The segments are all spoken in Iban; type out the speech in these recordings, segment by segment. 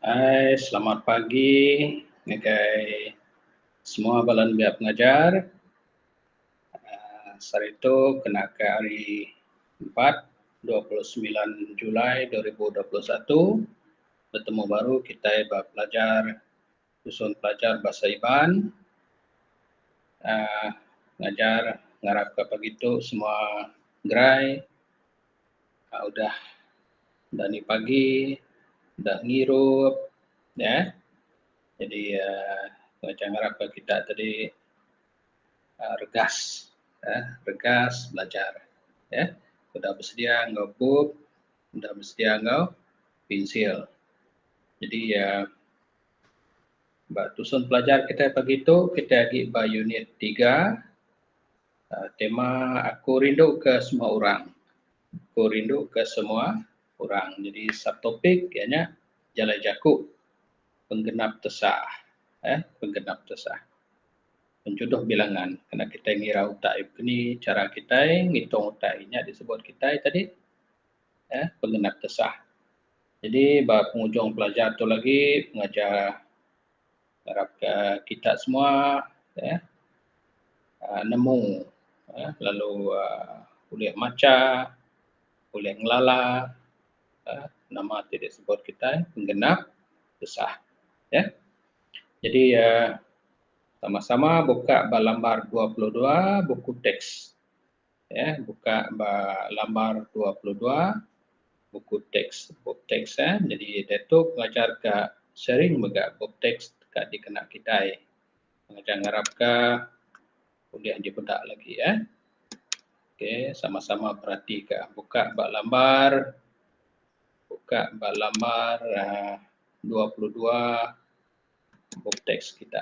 Hai selamat pagi ngagai semua bala nembiak pengajar aaa saritu kena ke hari empat dua puluh semilan Julai dua ribu dua puluh satu betemu baru kitai ba pelajar Tusun pelajar Bahasa Iban aaa ngajar ngarap ka pagi tu semua gerai aaa udah dani pagi udah ngirup nya eh jadi aaa ngarap ka kita tadi aaa regas aaa regas belajar eh udah besedia enggau bup udah besedia enggau pensil jadi aaa Ba tusun pelajar kitai pagi tu kitai agi ba unit tiga aaa tema aku rindu ke semua orang. Aku rindu ke semua orang nyadi subtopik iya nya jalai jaku penggenap tesa eeh penggenap tesa penjodoh bilangan kena kitai ngira utai keni chara kitai ngitung utai nya disebut kitai tadi. eh pengenap kesah. Jadi ba pengujung pelajar tu lagi pengajar arap ka kita semua eh ah, nemu eh lalu ah, ulih macha, ulih ngelala eh nama ti disebut kita eh, pengenap kesah. Eh. Jadi ah, sama-sama buka ba lambar 22 buku teks. eh buka ba lambar dua puluh dua buku teks bup teks eh nyadi diatu ngajar ka sharing mega bup teks ka dikena kitai ngajar ngarap ka ulih dipeda lagi eh okay sama sama perati ka buka ba lambar buka ba lambar um dua puluh dua bup teks kita.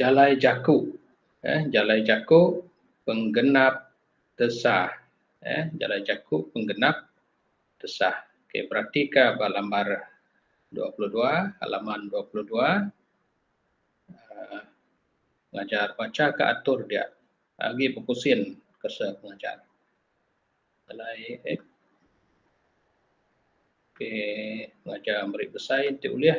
jalai jaku jalai jaku penggenap tesah jalai jaku penggenap tesah okey berati ka ba lambar dua puluh dua halaman dua puluh dua um belajar bacha ka atur dia agi bepusin ke se pengajar. Alai eh. Okay. Ngajar meri besai nanti ulih.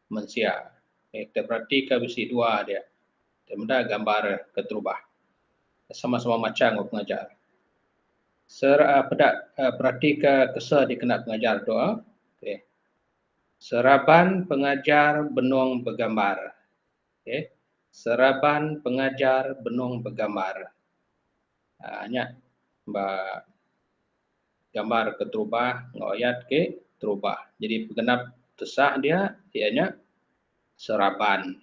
mensia. Okey kita peratika bisi dua dia. Kita meda gambar keterubah. Kita sama-sama macha enggau pengajar. Sir uh, peda uh, peratika kesa dikena pengajar tu. Uh. Okey. Seraban pengajar benung begambar. Okey. Seraban pengajar benung begambar. Uh, nya ba gambar keterubah enggau ayat ke terubah. Jadi pegenap tesah dia iya nya seraban.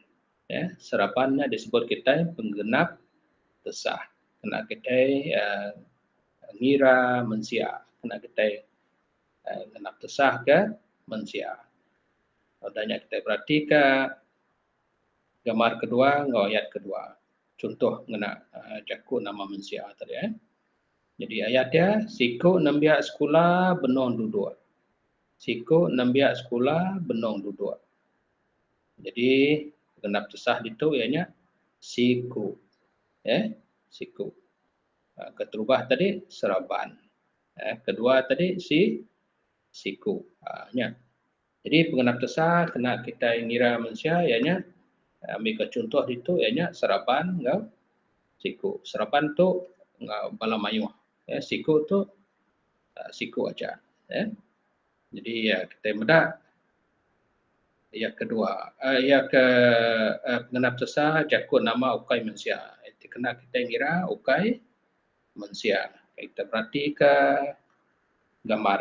Ya, seraban nya disebut kitai penggenap tesah. Kena kitai uh, ngira mensia, kena kitai uh, genap tesah ke mensia. Udah nya kitai beratika gambar kedua enggau ayat kedua. Contoh ngena uh, jaku nama mensia tadi eh. Nyadi ayat iya, siku nembiak sekula benung duduk. Siku nembiak sekula benung duduk. Nyadi genap tusah ditu iya nya siku. Eh, siku. Ah, keterubah tadi seraban. Eh, kedua tadi si siku. Ah, nya. Jadi pengenap tesa kena kitai ngira mensia iya nya ambika chunto ditu iya nya seraban enggau siku. Seraban tu enggau bala mayuh ya siku tu siku aja ya. Jadi kitai meda iya kedua iya ke pengenap tesa jaku nama ukai mensia enti kena kitai ngira ukai mensia. Kita beratika gambar.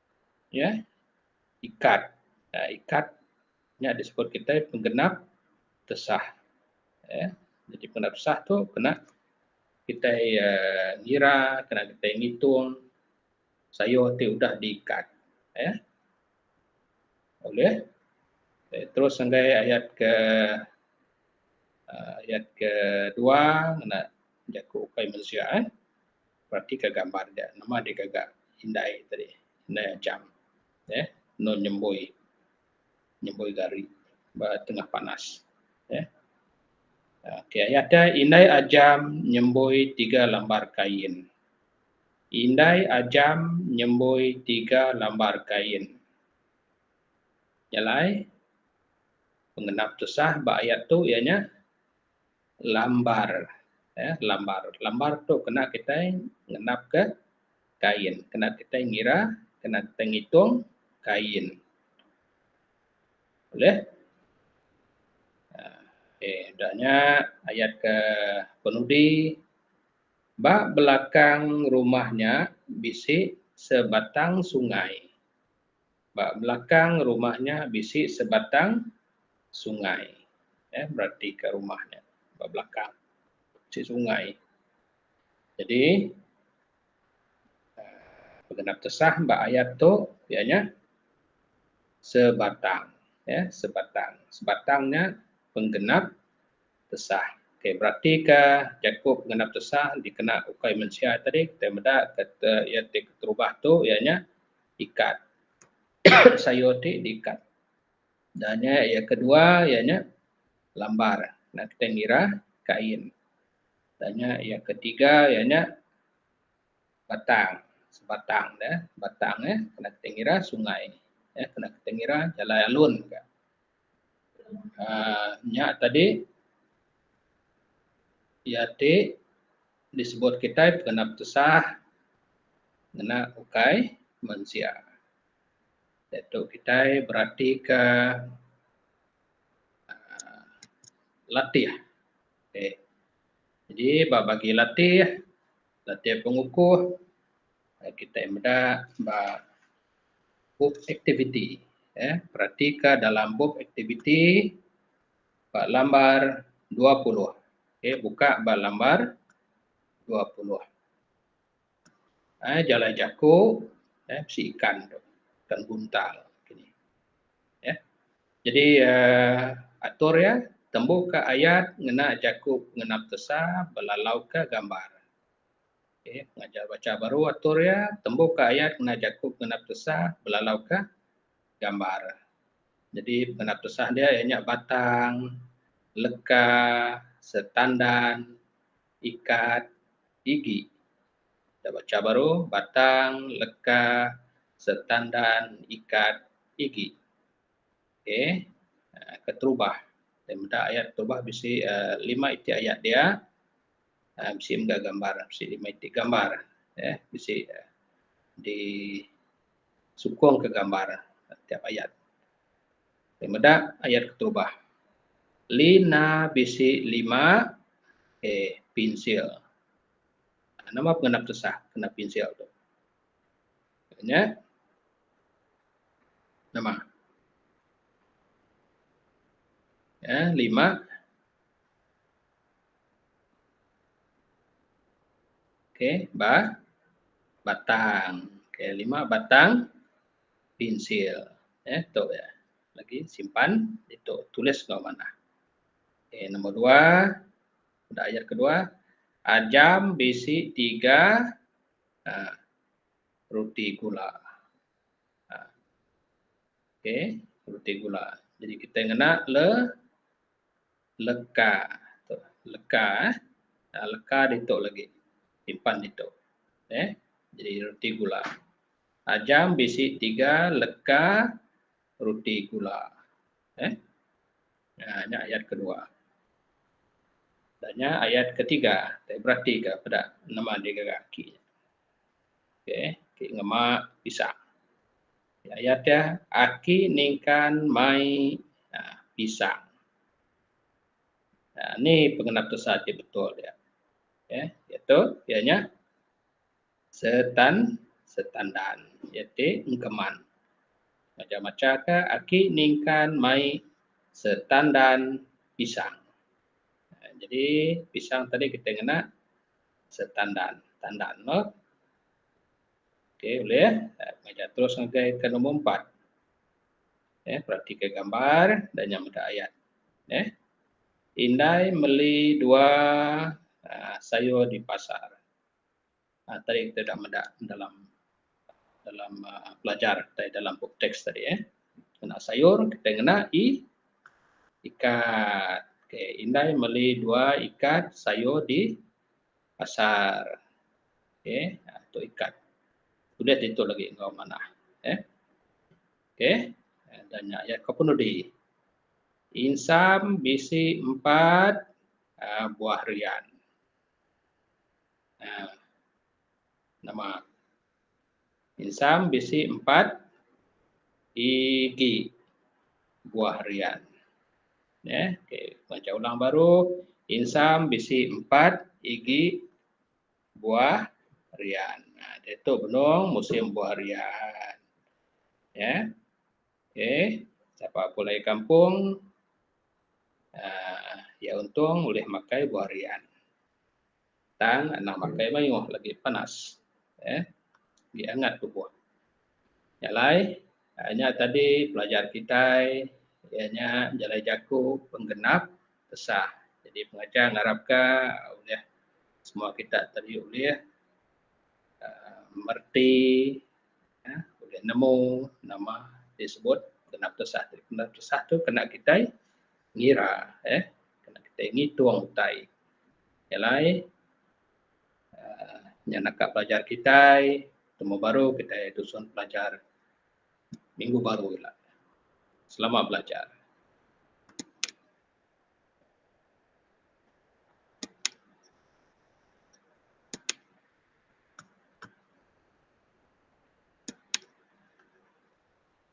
Iya ikat. Nah, ikat nya disebut kita penggenap tesah. Ya. Jadi penggenap tesah tu kena kita uh, eh, ngira, kena kita ngitung sayur ti udah diikat. Ya. Boleh. Okay. Terus sanggai ayat ke uh, ayat ke dua kena jaku ukai manusia. Eh. Perati ka gambar dia nama dia gaga indai tadi indai acham ya nun nyembui nyembui gari ba tengah panas ya okey ayat dia indai ajam nyembui tiga lambar kain indai ajam nyembui tiga lambar kain nyalai pengenap tusah ba ayat tu ianya lambar ya lambar lambar tu kena kitai ngenap ke kain kena kitai ngira kena kitai ngitung kain boleh ah, okey dah nya ayat ke penudi ba belakang rumah nya bisi sebatang sungai Ba belakang rumah nya bisi sebatang sungai. Eh beratika rumah nya ba belakang bisi sungai. Jadi pegenap tesah ba ayat tu iya nya sebatang eh sebatang. Sebatang nya penggenap tesah. Okey beratika jaku penggenap tesah dikena ukai mensia tadi kitai meda iya ti keterubah tu iya nya. ikat sayur ti diikat dan nya yang kedua iya nya lambar enda kitai ngira kain dan nya yang ketiga iya nya batang sebatang dah batang eh enda kitai ngira sungai enda kitai ngira jalai alun ka. um nya tadi iya ti disebut kitai pekena petusah ngena ukai mensia dia tu kitai beratika um latih okay jadi ba bagi latih, latih pengukuh. kitai meda ba bup aktiviti um peratika dalam bup aktiviti ba lambar dua puluh okay buka ba lambar dua puluh um jalai jaku um bisi ikan tu ikan buntal kini um jadi um atur iya tembuka ayat ngena jaku ngenap tesa belalau ka gambar. Okey, pengajar baca baru atur iya, tembuka ayat kena jaku kena petusah belalauka gambar. Jadi kena petusah dia iya nya batang, leka, setandan, ikat, igi. Kita baca baru, batang, leka, setandan, ikat, igi. Okey, keterubah. Meda ayat keterubah bisi lima iti ayat dia. Bisi mega gambar, bisi lima iti gambar eh bisi di sukung ka gambar tiap ayat. Ti meda ayat ketubah. Lina bisi lima eh pinsil. Nama pengenap tusah kena pinsil tu? Nya nama? Eh lima. Okey, ba batang. Okey, lima batang pensil. Eh, tu ya. Lagi simpan itu tulis enggau manah. Okey, nombor dua. Ada ayat kedua. Ajam bisi tiga uh, roti gula. Uh, Okey, roti gula. Jadi kita ngena le Leka tu. Leka eh. Aa leka ditu lagi. Simpan ditu. Eh. Jadi roti gula. Ajam bisi tiga leka roti gula. Eh. Aa nya ayat kedua. Dan nya ayat ketiga. Kita beratika peda nama digaga aki. Okey. Aki ngema pisang. Ayat dia, Aki ningkan mai pisang. Nah, ni pengenap tusa ti betul dia. Ya, iaitu dia nya setan setandan iaitu engkeman. Macam macam ke aki ningkan mai setandan pisang. Nah, jadi pisang tadi kita ngena setandan, tandan lo. Okey, boleh ya. Kita terus ngagai ke nombor empat. Eh, peratika gambar dan yang mata ayat. Eh, Indai meli dua uh, sayur di pasar. Uh, tadi kita dah meda dalam dalam uh, pelajar tadi dalam buku teks tadi eh. Kena sayur kita kena i ikat. Okey, Indai meli dua ikat sayur di Pasar. Okey. Ha, tu ikat. Tulis di tu lagi enggau manah. Eh. Okey. Eh, dan nya ya kau pun udi. Insam bisi empat uh, buah rian. Uh, nama Insam bisi empat igi buah rian. Neh, okey, baca ulang baru. Insam bisi empat igi buah rian. Ha, diatu benung musim buah rian. Ya. Okey, sapa pulai kampung uh, ya untung ulih makai buah rian. Tang anak makai mayuh lagi panas. Eh, lagi angat tubuh. Nya alai, ah, nya tadi pelajar kitai iya nya jalai jaku penggenap tesah. Jadi pengajar ngarapka ulih semua kita tadi ulih ah, mereti ah, ulih nemu nama disebut genap tesah. Genap tesah tu kena kitai ngira eh. kena kitai ngitung utai nya alai aaa nya naka pelajar kitai temu baru kitai tusun pelajar minggu baru ila. Selamat belajar.